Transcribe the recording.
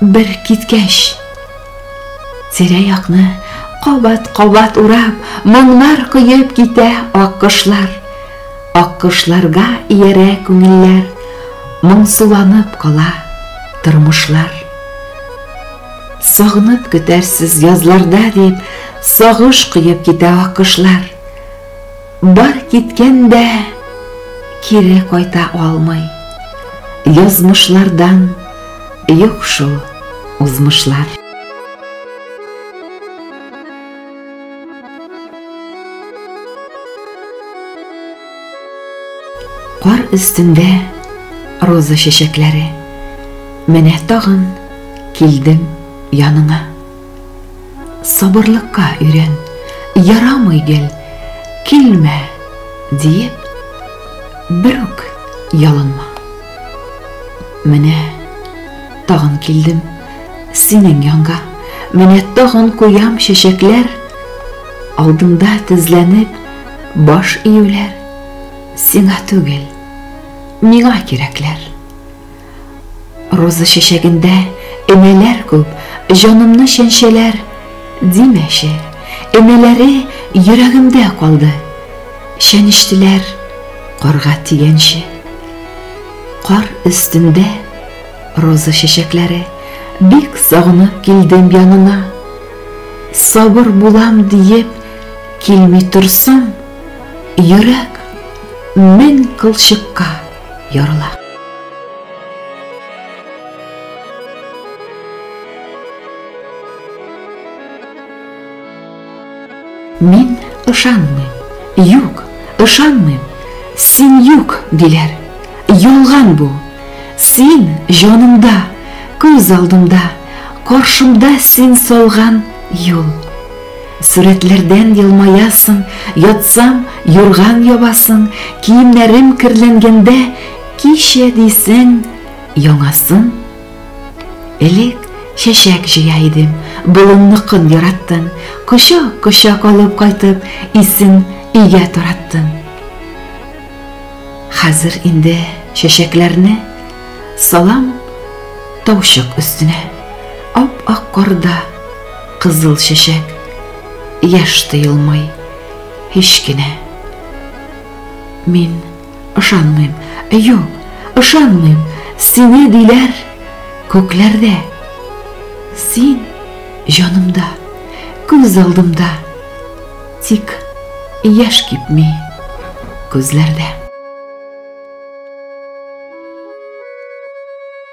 Бер киткәч, тирә-якны кабат-кабат урап, моңнар коеп китә аккошлар. Аккошларга иярә күңелләр, моңсуланып кала тормышлар. Сагынып көтәрсез язларда дип, сагыш коеп китә аккошлар. Бар киткән дә кире кайта алмый, Язмышлардан юк шул узмышлар. Кар өстендә роза чәчәкләре, Менә тагын килдем яныңа. Сабырлыкка өйрән, ярамый гел, килмә, диеп, бер үк ялынма. Менә тагын килдем синең янга, менә тагын куям чәчәкләр, алдыңда тезләнеп баш июләр, сиңа түгел, миңа кирәкләр. Роза чәчәгендә энәләр күп, җанымны чәнчәләр, димәче, энәләре йөрәгемдә калды, чәнештеләр карга тигәнче. Кар өстендә роза чәчәкләре, бик сагынып килдем янына. Сабыр булам диеп килми торсам, йөрәк мең кылчыкка. ярыла. Мин ышанмыйм. Юк, ышанмыйм. Син юк, диләр. Ялган бу. Син җанымда, күз алдымда, каршымда син салган юл. Сурәтләрдән елмаясың, ятсам, юрган ябасың, киемнәрем керләнгәндә, кичә дисең, яңасын. Элек чәчәк җыя идем, болынныкын яраттым, кочак-кочак алып кайтып, исен өйгә тараттым. Хәзер инде чәчәкләрне салам таучык өстенә, ап-ак карда. Кызыл чәчәк яшь тыелмый һич кенә. Мин ышанмыйм, юк, ышанмыйм, сине диләр күкләрдә. Син җанымда, күз алдымда, тик яшь кипми күзләрдә.